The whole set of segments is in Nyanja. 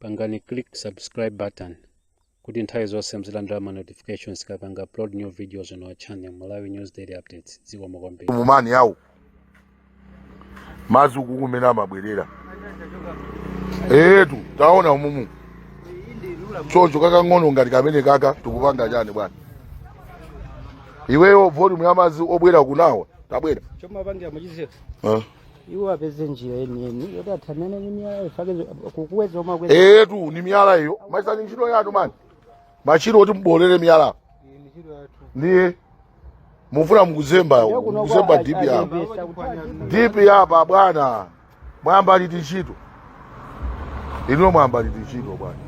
pangani click subscribe button kuti nthawi zonse muzilandira ma notifications tikapanga upload new videos on our channel malawi news daily updates zikomo kwambiri mumani awo madzi uku kumene amabwerera etu taona umumu choncho kakang'ono ngati kamene kaka tikupanga chani bwana iweyo volume ya madzi obwera kunawa tabwera chomapangira muchizetu Eh. iwo apeze njira yeniyeni yoti athanane ndi miyala ifake kukuweza omwe akweza etu ni miyala iyo machines ntchito yanu mani machine oti muboolere miyala ndiye mufuna mukuzemba mukuzemba dipi yapa dipi yapa bwana mwayamba liti ntchito ino mwayamba liti ntchito bwana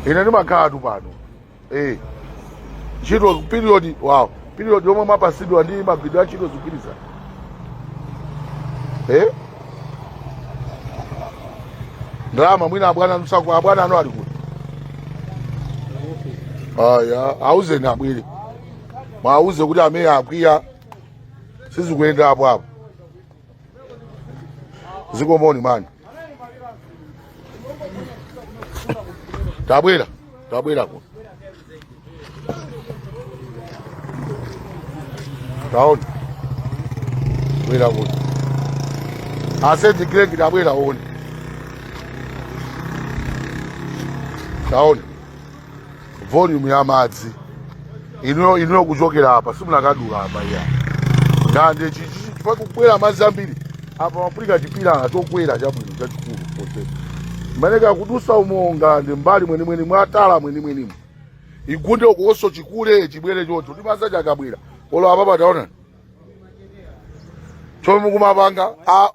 ine ndimakhala tu pano eh ntchito period wow period yomwe mwapasidwa ndi magwiridwe a ntchito zikugwirizana eh ndalama mwina abwana nzako abwana ano ali kuti aya auzeni abwere mwauze kuti a mwene akwiya sizikuyenda apo apo zikomoni mani tabwera tabwera kuno taona bwera kuno aseti gregi tabwera one taona volume ya madzi inuyo inuyo kuchokera apa simunakadula apa iya ngande chifukwa kukwera madzi ambiri apa mapulika chipilala chokwera chabwino chachikulu kose mwaneka kudusa umo ngande mbali mwenimweni mwatala mwenimwenimo igunde ukoso chikule chibwere chocho ndiye madzi aja akabwera olo apa pataona chomwe mukumapanga a-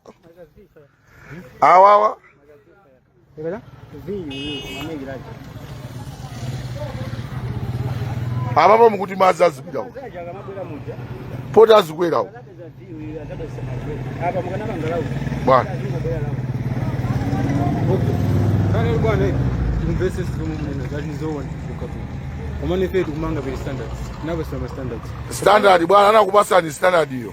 awawa apapo mukuti madzi azipita uko poti azikwera uko bwana Kale bwana investors zomumuna that is all one kukatu. Omane fe kumanga be standards. Naba sama standards. standard bwana anakupasani standard iyo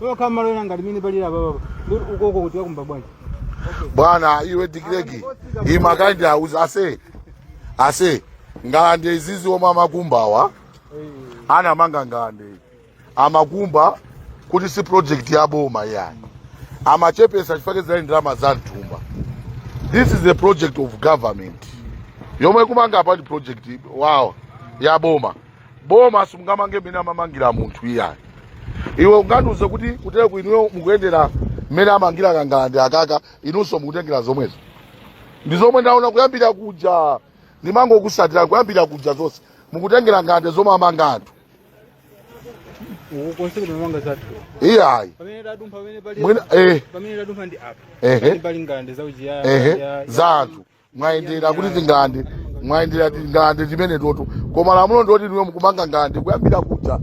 tokha malo ena ngati mene palira papapa ndikuti ukoko kuti wakumba bwanji bwana iwe direct umakandiuza ase ase ngalande izizi omwe amakumbawa anamanga ngalande amakumba kuti si project ya boma yani amachepesa chifukwa za ndalama za mthumba this is a project of government yomwe kumanga apa ndi project wow ya boma boma simungamange mmene amamangira munthu iyayi iwe ungandiuze kuti kutere ku inuyo mukutengera mmene amangira kangalande akaka inunso mukutengera zomwezo ndi zomwe ndaona kuyambira kuja ndimangokusatira kuyambira kuja zonse mukutengera ngande zomwe amanga anthu ukonse kuti mamanga zathu iyayi pamene tadumpha pamene pali mwina eh, pamene tadumpha ndi apa ehe pali ngande za ujiyaya ehe za anthu mwayendera kuti tingalande mwayendera tingalande timene toto koma lamulo ndoti ndiwe mukumanga ngalande kuyambira kuja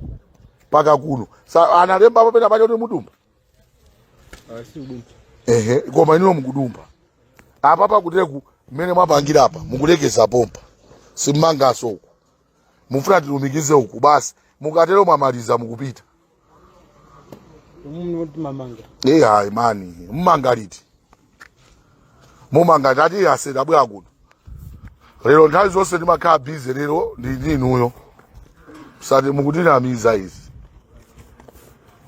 mpaka kuno sanalembepo pena pake kuti muzidumpha ehe koma inuyo mukudumpha apa pakuteku mmene mwapangira apa mukulekeza pompa simmanganso uku mufuna tilumikize uku basi mukatero mwamaliza mukupita e hayi mani mumanga liti mumanga liti as tabwera kuno lero nthawi zonse ndimakhala busy lero ndi ndi inuyo osati mukutinamiza izi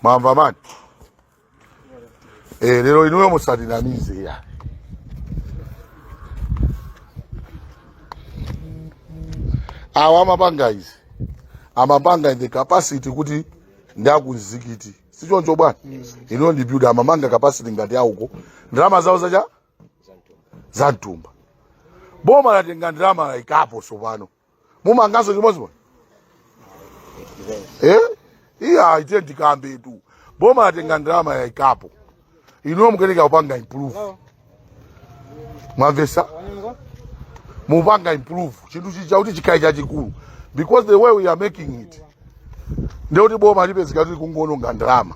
mwamva mani Eh, lero inuyo musatinamize ya awa amapanga izi amapanga in the capacity kuti ndi a ku mzikiti sichoncho bwana inuyo ndi builder amamanga capacity ngati awo ndalama zawo zache za mthumba boma latenga ndalama laikapo sopano mumanganso chimodzimodzi eh iyayi tandikambetu boma latenga ndalama yaikapo inuyo mukuyeneka kupanga improve mwamvesa mupanga improve chinthu chija kuti chikhale chachikulu because the way we are making it ndiye kuti boma lipezeka kuti likungoononga ndalama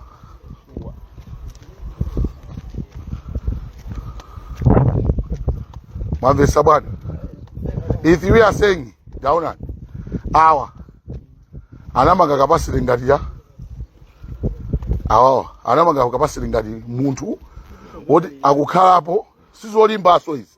mwamvesa bwana if we are saying taonani awa anamanga capacity ngati ya awawa anamanga capacity ngati munthu woti akukhalapo sizolimbanso izi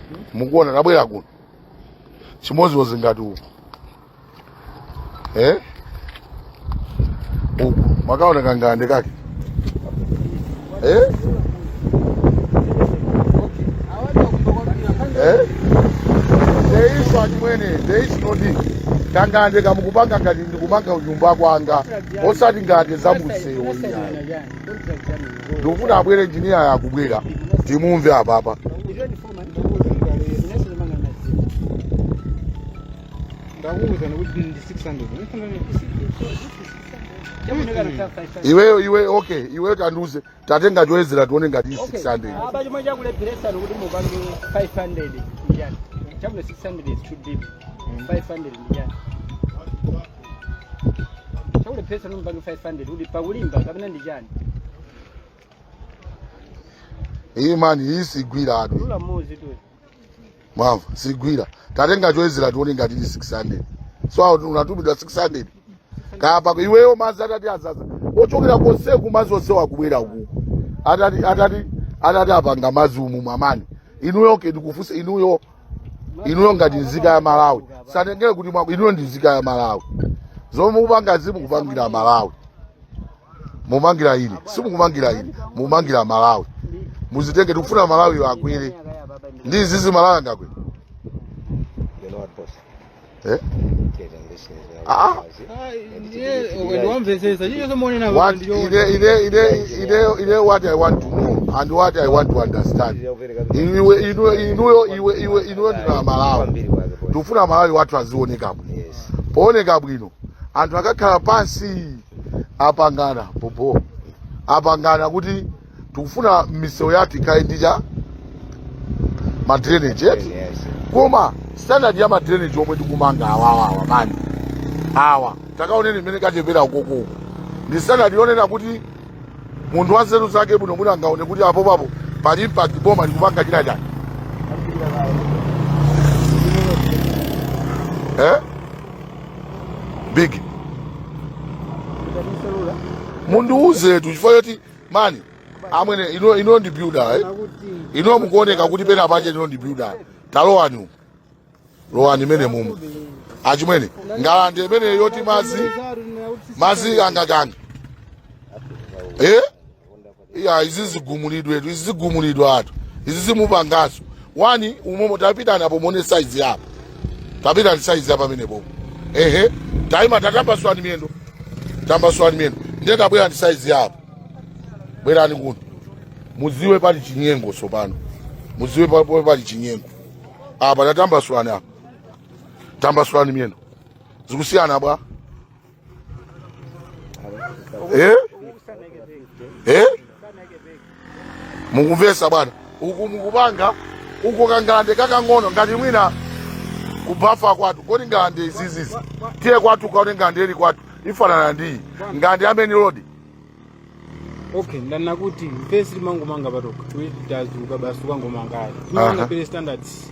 mukuona tabwera kuno chimodzimodzi ngati uku eh? uku mwakaona kangalande kake eh? Eh? There is achimwene, there is no need. kangalande kamukupanga ngati ndikupanga kunyumba kwanga osati ngati zamumsewu iyayi ndikufuna abwere injiniya akubwera timumve apapa ndakuwuzana kuti ndi 600 iweyo iwe okay iweyo tandiuze tatenga choyezera tione ngati 600 apa chomwe chakulepheretsani kuti mupange 500 n'chiyani chakuti 600 is too deep 500 n'chiyani chakulepheretsa nomba ndi 500 kuti pakulimba kapena ndi chani iyi mani iyi sigwira atu lula muzi tu mwamva sigwira tatenga choyezera tione ngati ili 600 so iwe unatumidwa 600 apa iweyo madzi atati adzadza ochokera konseku madzi onse akubwera uku atati apanga madzi umu mwamani inuyo ndikufunsa inuyo inuyo ngati nzika ya malawi musatengere kuti mwa- inuyo ndi nzika ya malawi zomwe mukupanga si mukupangira malawi simukumangira ine simukumangira ine mukumangira malawi muzitenge tikufuna malawi akwere ndi izizi malawi angakwere Eh? Ah, ah. ndimvetsetse What ine ine ine ine ine what I want to know and what I want to understand. Iwe inuyo inuyo iwe iwe inuyo ndi a Malawi. Tufuna Malawi wathu azioneka bwino. Pooneka bwino. Anthu akakhala pansi apangana bobo. Apangana kuti tikufuna misewu yathu ikhale ndi ma drainage eti Yes. koma standard ya ma drainage omwe tikumanga awawawa mani awa takaoneni mmene kachepela ukokoko ndi standard yonena kuti munthu wa nzeru zake bwino mwina angaone kuti apopapo pali impact boma likupanga china chani eh? big mundiuzetu chifukwa choti mani amwene inu inu ndi builder eh inu mukuoneka kuti penapake inu ndi builder talowani umu. lowani mmenemumu achimwene ngalande imene yoti madzi madzi angapanga eh iya izi zigumulidwe izi zigumulidwatu izi zimupangaso lowani umomo tapitani apo muone saizi yapo tapitani saizi yapa pamene popo ehe taima tatambasulani miyendo tambasulani miyendo ndiye tabwerani ndi saizi yapo bwerani kuno mudziwe pali chinyengo tsopano mudziwe pa- pomwe pali chinyengo apa tatambasulani apa tambasulani miyendo zikusiyana bwa eh? eh? mukumvetsa bwana uku mukupanga uko kangalande kakang'ono ngati mwina kubafa kwathu kuli ngalande izizizi tiye kwathu kaone ngalande ili kwathu ifanana ndi iyi ngalande ya main road okay ndanena kuti mfesi timangomanga patoka tazuka basi ukangomangayo Aha. timangapo ma standards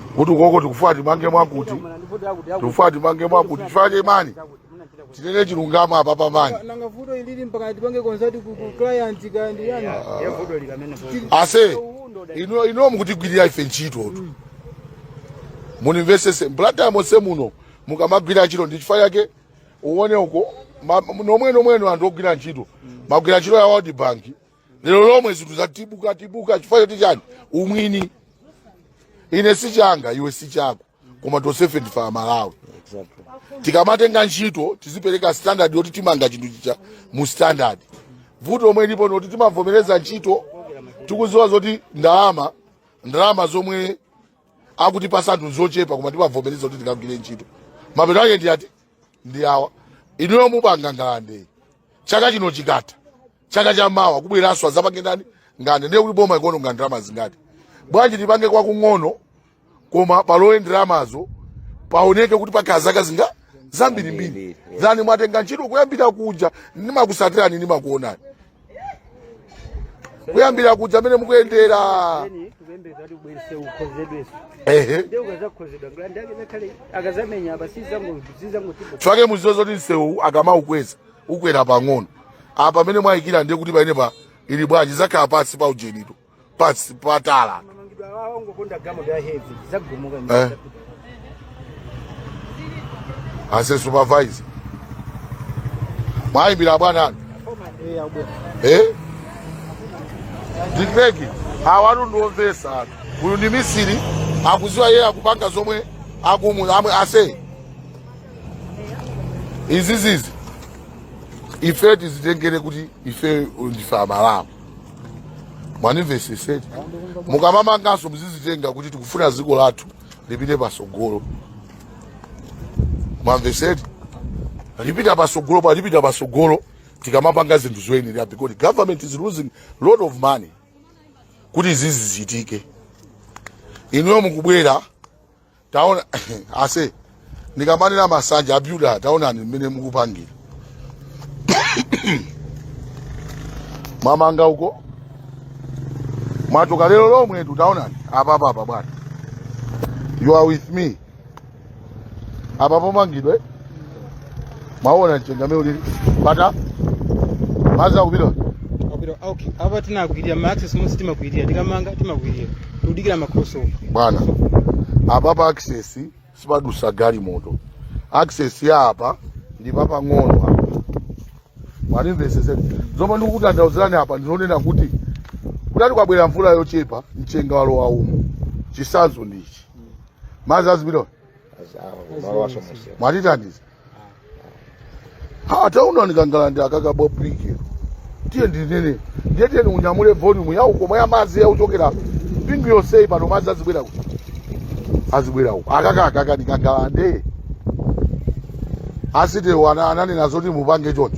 kuti ukoko tikufuna timange mwakuti tikufuna timange mwakuti chifukwa chake mani tinene chilungamo apapa mani nanga vuto ilili mpaka tipange consult ku ku client ndi ndani ase inu inuyo mukutigwirira ife ntchitotu mundimvetsetse Mblantyre monse muno mukamagwira ntchito ndi chifukwa chake uone uko ma- nomwenomweno anthu ogwira ntchito magwira ntchito ya world bank lero lomwe zinthu zatibuka tibuka chifukwa choti chiyani umwini ine si changa iwe si chako koma tonsefe ndife amalawi tikamatenga ntchito tizipereka standard yoti timanga chinthu chija mu standard vuto lomwe lilipo n'loti timavomereza ntchito tikudziwa zoti ndalama ndalama zomwe akutipatsa anthu zochepa koma timavomereza kuti tikagwire ntchito mapeto ake ndi ati ndi awa inuyo mupanga ngalandeyi chaka chino chikatha chaka cha mawa kubweranso azapange ndani ngande ndiye kuti boma likuononga ndalama zingati bwanji tipange kwa kung'ono koma palowe ndalamazo paoneke kuti pakhala zaka zingapo zambirimbiri zani mwatenga ntchito kuyambira kuja ndimakutsatirani ndimakuonani kuyambira kuja mmene mukuyendera chifukwa mudziwe zoti msewu akamaukweza ukwera pang'ono apa pamene mwayikira ndiye kuti pamenepa ili bwanji zakhala pansi pa ujenito pansi patala ase supervisor mwayimbira bwana wanu eh? ma brick awatu ndi omvetsa atu uyu ndi mmisiri akudziwa yeye akupanga zomwe akumwa mwe ase izizizi ifeyo tizitengere kuti ifeyo ndife amalawi mwandimvetsetsa eti mukamamanganso muzizitenga kuti tikufuna dziko lathu lipite patsogolo mwamvetsa eti lipita patsogolo pa lipita patsogolo tikamapanga zinthu zoyenera because government is losing lot of money kuti izi zichitike inuyo mukubwera taona ase ndikamanena masanja abilimankhwe taonani mmene mukupangira mwamanga uko mwachoka lero lomwetu taonani apapa apa bwana you are with me apa pomangidwe mwaona mchenga mmene ulili apa madzi akupita okay Apa tinagwirira ma access monse timagwirira tikamanga timagwirira. Tudikira ma crossover. bwana apa pa access sipadutsa galimoto access ya apa ndi papang'ono apa mwandimvetsetsa zomwe ndikukutanthauzirani apa ndikunena kuti kutati kwabwera mvula yochepa mchenga walowa umo chisanzo ndichi madzi azipita mwatithandiza ha taonani kangalande akaka ka brick tiye ndinene ndiye tiyeni unyamule volume ya uko komwe madzi akuchokera mbali yonseyi pano madzi azibwera uko azibwera uko akaka akaka ndi kangalande a site wo ananena zoti mupange choncho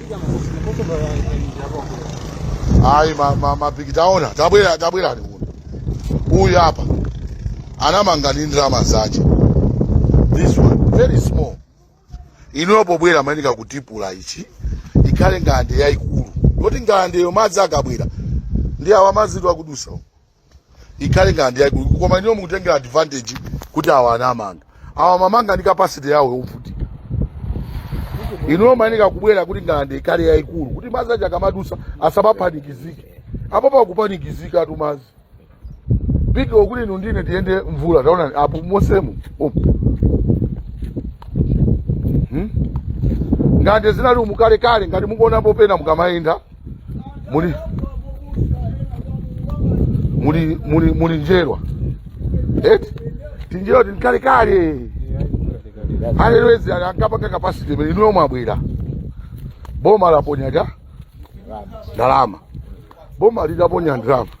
ayi ma- ma- mabigi taonani tabwera tabwerani kuno uyu apa anamanga ndi ndalama zace this one very small inuyo pobwera mumayeneka kutipula ichi ikhale ngalande yayikulu yoti ngalandeyo madzi akabwera ndi awa madziwa akudutsa umu. ikhale ngalande yaikulu koma inuyo mukutengera advantage kuti awa anamanga awa amamanga ndi capacity yawo yovutika inuyo mumayeneka kubwera kuti ngalande ikhale yaikulu kuti madzi aja akamadutsa asamapanikizike apo pakupanikizika atu madzi pika okuti inu ndine tiyende mvula taonani apo mosemu umu Hmm? ngalande zinali umu kalekale ngati mukuonapo pena mukamayenda muli muli muli muli njerwa eti tinjerwa ta m'kalekale alelwezi ankapanga capacity imene inuyo mwabwera boma laponya ndalama boma litaponya ndalama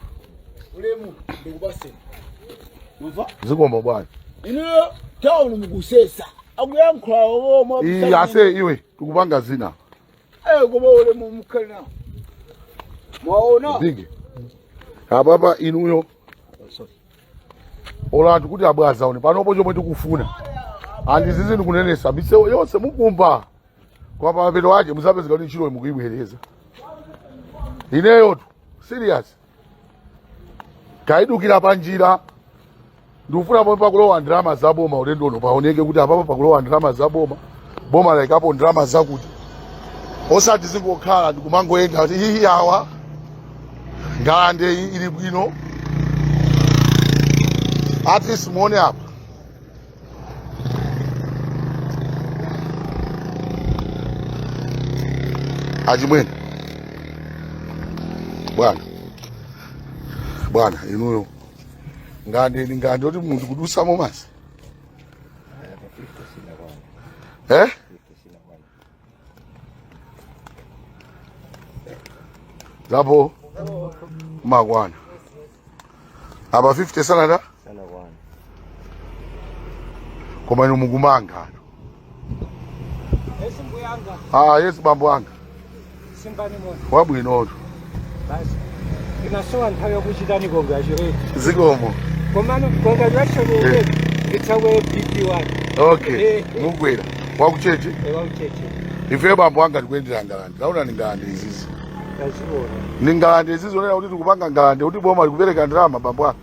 ulemu ndikupaseni umva zikomo bwana inuyo town mukusesa akuyankhulawo omwe iyi ase iwe tikupanga zina Eh, koma ulemu mukukana. Mwaona? Bigi. Ababa inuyo. Olo anthu akuti abwana aone panopo chomwe ndikufuna. And izizi ndikunenesa misewu yonse mukumba. Kwa mapeto ake muzapezeka kuti ntchito mukuyibwereza. Ineyotu serious. taidukiza panjira ndikufuna pomwe pakulowa ndalama za boma ulendo uno paoneke kuti apapa pakulowa ndalama za boma boma laikapo ndalama zakuti osati zingokhala ndikumangoyenda kuti hihi awa ngalande iyi ili bwino at least muone apa Achimwene bwana bwana inuyo ngandeni ngandi oti munthu kudusamo masi eh? zapo mumakwana apa 50 sanada sanakwana koma inu mukumanga ano ah yesu bambo anga simbani moto wabwinotu basi inasowa nthawi yokuchitani congratulate zikomo komano congratulation Eh. ulebe nditsakweye bp wake okay Eh. mukwera wakucheche ewaucheche ife bambo anga tikuendera ngalande taona ni ngalande izizi tazionani ni ngalande izizi onena kuti tikupanga ngalande kuti boma likupereka ndalama bambo anga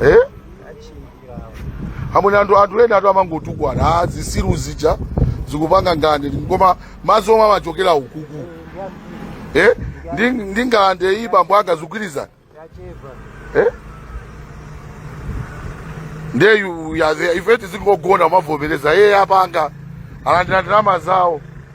eh? amwene anthu anthu enatu amangotukwana ah, zisiru zija zikupanga ngalande koma madzi omwe amachokera ukuku eh? ndi, ndi ngalande iyi bambo anga zikugwirizana eh? ndiye yu- ya- ife tizingogona kumavomereza iye apanga alandira ndalama zawo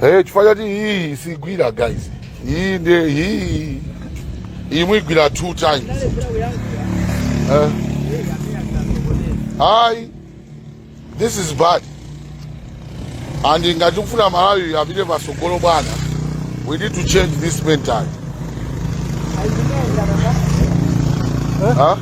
Hey, chifukwa chakuti iyi sigwira guys iyi ndi iyi iyi muigwira two times eh? ayi This is bad. And ngati tikufuna Malawi apite patsogolo bwana, we need to change this mentality. Huh?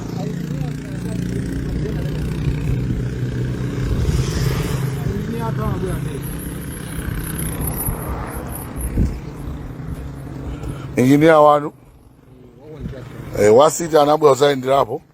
Engineer wanu eh, wasiti anabwera kuzayenderapo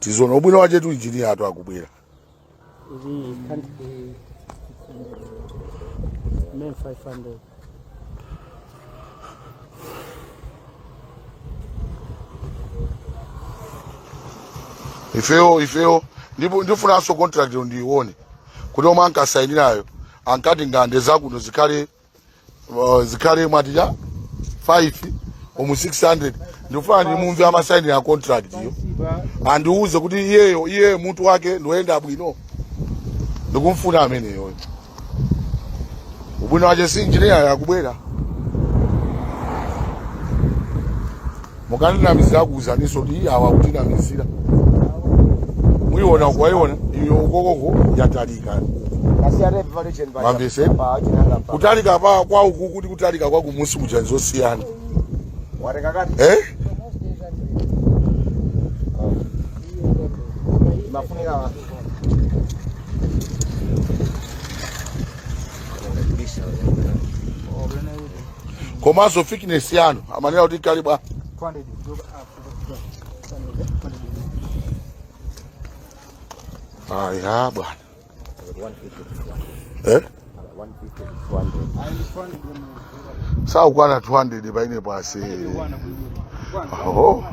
tizoona ubwino wache tu injiniya atu akubwera Iri can't be 500. ifeyo ifeyo ndipo ndifunanso contract ndiione kuti omwe ankasainirayo ankati ngande zakuno zikhale zikhale mwati ija 500 600 ndikufuna ndimumve amasainiya contract iyo andiuze kuti iyeyo iye mutu wake ndoyenda bwino ndikumfuna ameneyoyo ubwino wache si injiniya akubwera mukaninamiza akuuzaninso kuti awa akutinamizira muiona uko waiona iyo ukokoko yatalika mamvese kutalika pa kwa uku kuti kutalika kwa kumusi kuja nzosiyana eh? komanso thickness yanu amanena kuti kalibwa aya bwana eh? sakukwana 200 paine pasi oh.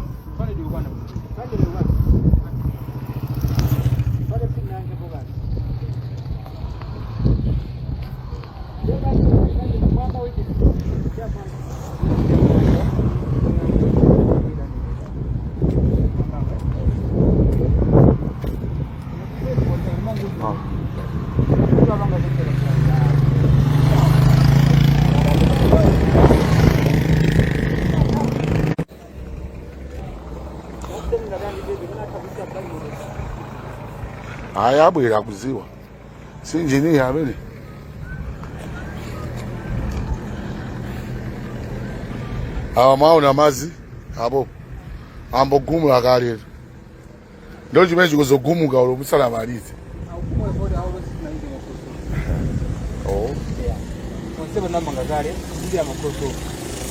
Haya, abwera kuziwa si injinia amene awa mwaona madzi apo ayambo gumula kale ndiye chimene chikuzogumuka uko musanamalize Oh. onse anamanga kale ndi amakoso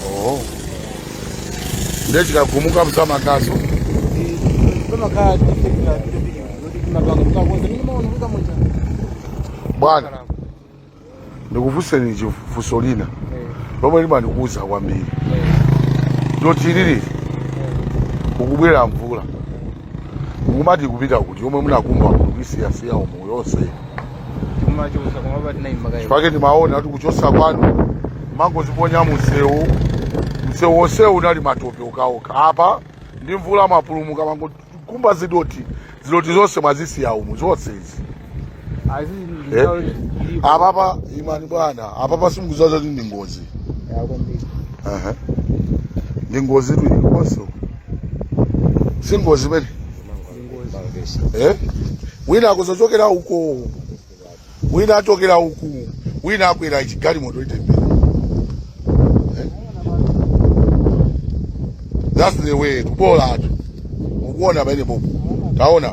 Oh. Ndiye chikagumuka muzamangaso. Pamakhala tichekera tichekera kuti timapanga mutakonza mene maona kuti kamucha. Bwana, ndikufunseni chifunso lina lomwe limandikhudza kwambiri. Dothi ili ili kukubwera mvula. mukumati kupita kuti yomwe munakumba kuti kuisiyasiya umu yonse timachosa koma pati nayi makayi pake ndimaona kuti kuchosa kwanu mangoziponya msewu msewu wonsewu unali matope mukachoka apa ndi mvula mwapulumuka mangokumba zidothi zidothi zonse mwazisiya umu zonse izi Ayi sisi ndi Eh? nthawi ilipo. apapa imani bwana apapa sikuzazani kuti ndi ngozi Ya kwambiri. Aha. ndi ngozitu ilikonso si ngozi eh? wina akuzochokera uko wina achokera uku wina akwera chigalimoto itembenuke eh? that's the way bolatu mukuona pamenepo taona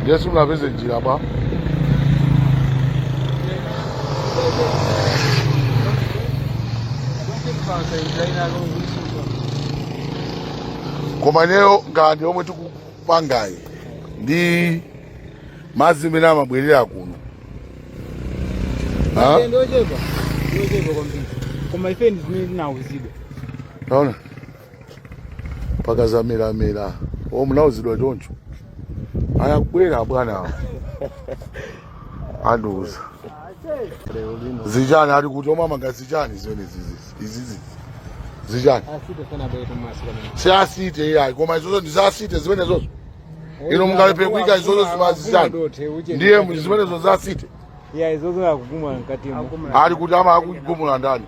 ndiye simunapeze njira bwana koma ineyo ngalande zomwe tikupangazi ndi madzi amene amabwera kuno Ha? ndochepa ndochepa kwambiri koma ife ndi zimene tinawuzidwa taona mpaka zamiramira o munauzidwa choncho anabwera abwanawo andiuza lero lino zijani ali kuti omamanga zijani zimene izizi zijani asite sanabwere pamaso pamene si asite iyayi koma izozo ndi za asite zimenezozo inu mungaleke kuika izozo zima zijani ndiye zimenezo za asite ya izozo akugumula mkatimo ali kuti ama akugumula ndani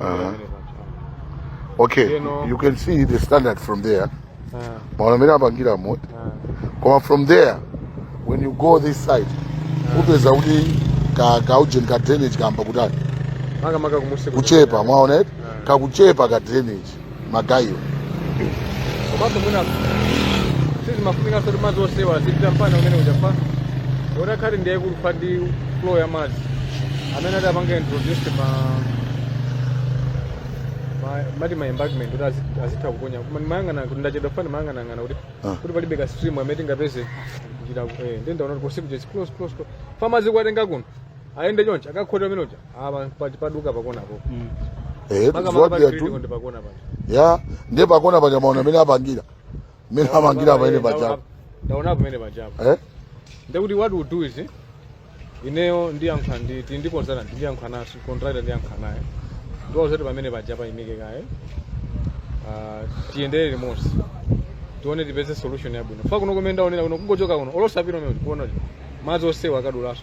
Uh-huh. Okay, you, know, you can see the standard from there. Uh, Koma from there, when you go this side, upeza kuti ka ka ujeni ka drainage kamba kutani. Maka maka kumusi kuchepa, mwaona eti? Kakuchepa ka drainage. magaye wo komanso mwina sizimafunika zoti madzi onsewa azipita mbali imene ija fa otakhala kuti ndiye kulupha ndi flow ya madzi amene atapange introduce ma ma- mati ma embankment kuti azi- azitha kuponya koma ndimayang'ana kuti ndachedwa pang'ono mayang'anang'ana kuti Ah. kuti palibe ka stream amene tingapeze kuchita eh, ndi ndaona kuti posikuja close close close fa madzi kuwatenga kuno ayende chonchi akakhota pamene paja apa pa- paduka pakona po Eh, Maka- maka pali poti critical ndi pakona paja ndiye pakona paja mwaona mmene apangira mmene apangira pamene pajapo ndaona pamene pajapo eh? nde kuti what we do is eh, ineyo ndiyankhula ndi ti- ndi consultant ndiyankhula naye contractor ndiyankhula naye ndiwauze zoti pamene paja aimike kaye Ah, tiyendere limodzi tione tipeze solution yabwino fa kuno kumene ndaonera kuno kungochoka kuno olo osapita kumene ukuona kuti madzi onsewa akadulaso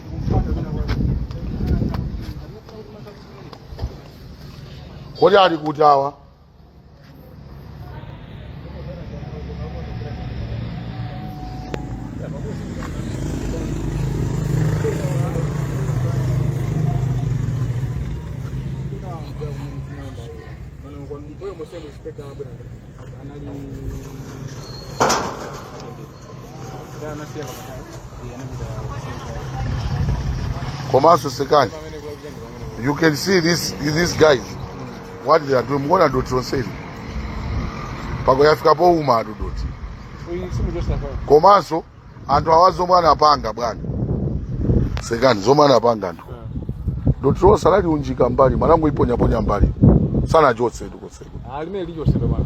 kodi ali kuti awa komanso chekani you can see this, these guys what they are doing mukuona dothi lonseli pako yafika pouma dothi komanso anthu awa zomwe anapanga bwana chekani zomwe anapanga anthu dothi lonse analiunjika mbali mwanangu kuponyaponya mbali sanachotse tuchotseko ndimene nditchotsera bwana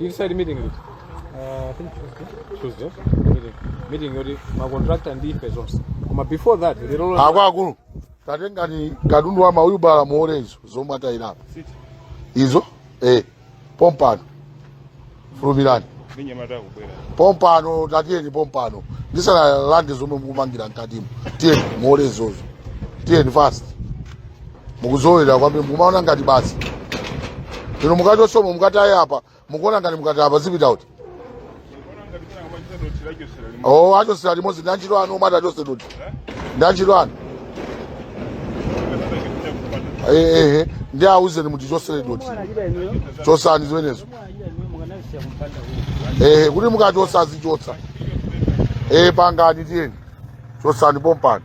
You decide meeting it. Uh, I think Tuesday. Tuesday. Meeting. Meeting yoti ma contractor ndi ife zonse. Koma before that, lero lolo- akwaakulu tatengani katundu wa ma wheelbarrow muole izo zomwe atayirapo izo eh, pompano fulumirani pompano tatiyeni pompano ndisanalande zomwe mukumangira mkatimo tiyeni muole izozo tiyeni fast mukuzolowera kwambiri mukumaona ngati basi inu mukachosamo mukataye apa mukuona ngati mukati apa zipita kuti o achosere limodzi ndi anjira anu omwe atachose dothi ndi anjira anu ehe ndi auzeni mutichosere dothi chosani zimenezo ehe kuti mukachosa zichoka ehe pangani tiyeni chosani pompano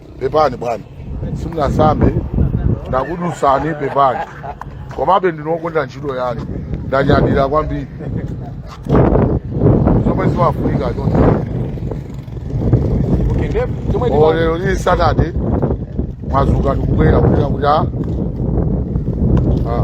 pepani bwana simunasambe ndakudzutsani pepani komabe ndakonda ntchito yanu ndanyadira kwambiri zomwe zimafunika chonse okay nde chomwe Oh, ndiye lero lili saturday mwadzuka ndikubwera kuchita kuti a Ah.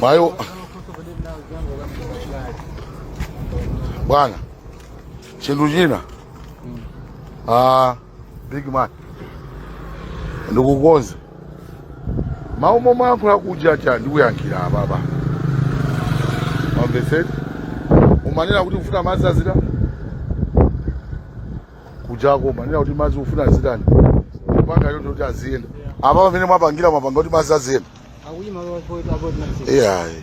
Mayo bwana, chinthu china ah, big man ndikukonza mawu momwe ankhula kuja aja ndikuyankhira ababa mamvetseni umanena kuti ufuna madzi adzera kujako umanena kuti madzi ufuna adzereni kupanga yoti kuti aziyenda apa pamene mwapangira mwapanga kuti madzi aziyenda Akuyi malo apo apo tinasema. iyayi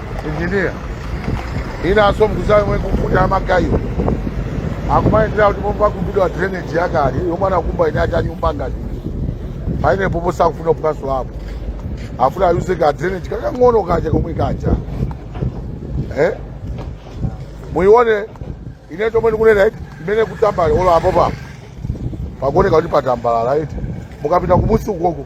injiniya inanso mukudziwa yomwe kufuna magayo akumayendera kuti pomwe pakumbidwa drainage yakale yomwe anakumba ine ajanyumba ngati paine pompo sakufuna kupanso apo afuna ayuze ka drainage kakang'ono kaja komwe kaja eh? muione ine chomwe ndikunena eti mmene kutambala olo apo papo pakuoneka kuti patambalala eti mukapita kumunsi ukoko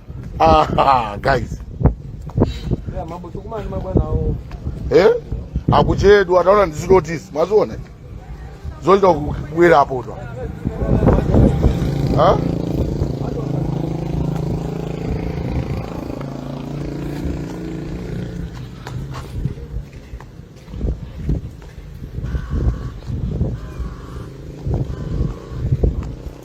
Ah, guys Yeah, mambo tukumana mabwana hao. eh? akuchedwa taona ndizitotisi mwaziona zochita kubwera apo twa Ha?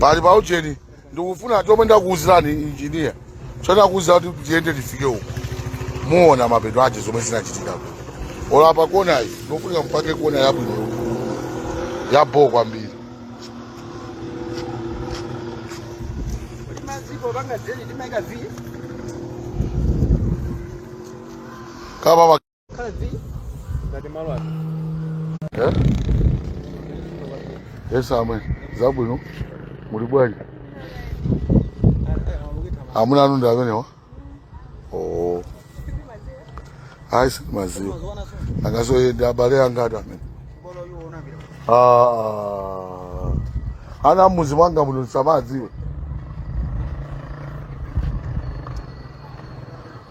pali pa ujeni ndikufuna chomwe ndakuwuzirani injiniya chonakuwuzira kuti tiyende tifike uko muona mapeto ache zomwe zinachitika olo apa konayi ikufunika mupange kona yabwino yabho kwambiri kama Eh? Yes, amwe. Zabwino. Muli bwanji? Amuna anu ndi amenewa? Oh. Ayi sindimawadziwa. Angasoye ndi abale anga ati amene. Ah. Ana a mudzi mwanga muno samadziwe.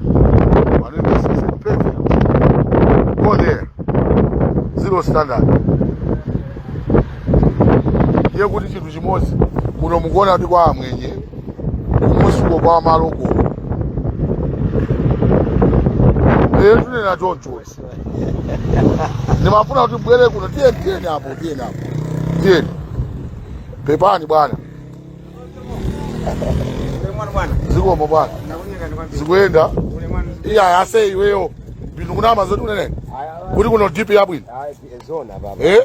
My name is Cesar Pete. Go there. Zero standard. Ndiye kuti chinthu chimodzi kuno mukuona kuti kwa amwenye kumunsiko kwa maloko lero tikunena choncho ndimafuna kuti mubwere kuno tiyeni tiyeni apo tiyeni apo tiyeni pepani bwana zikomo bwana zikuyenda iya ase iweyo bintu kunama zoti umanena kuti kuno dp yabwino Eh?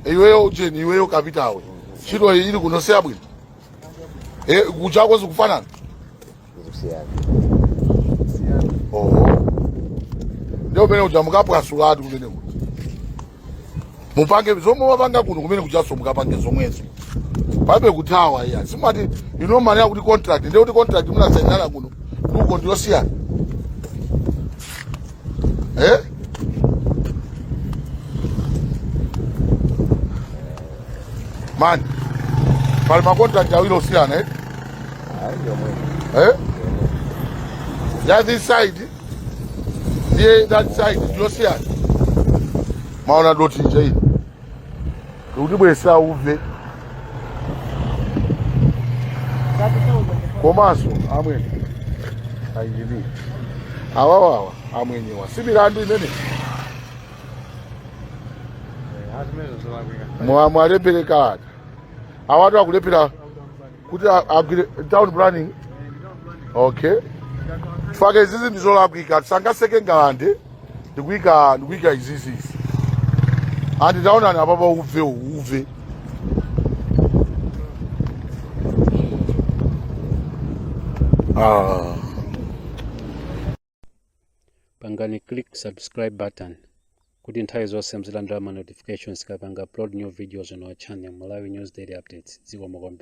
iweyo ujeni iweyo kapitawe ntchito iyi ili kuno siyabwino Eh, kujako zikufanana zikusiyana oho ndiye kumene kuja mukaphwasuletu kumeneku mupange zomwe mwapanga kuno kumene kujanso mukapange zomwezo palibe kuthawa iyayi simati ino mali yakuti contract ndiye kuti contract munasainana kuno uko ndiyosiyana eh? mani pali makontrakt awiri osiyana ya this side ndiye that side ndi yosiyana mwaona dothi nje ili likutibwezera uve komanso amwene a injini awawawa amwenyewa si milandu imene Mwalembera kalata awatu akulephera kuti agwire town planning okay tifake izizi ndizolakwika tisangotseka ngalande ndikuika izizi ndi taonani apapa uve uwu, uve. pangani click subscribe button kuti nthawi zonse muzilandira ma notifications tikapanga upload new videos on our channel Malawi News Daily Updates zikomo kwambiri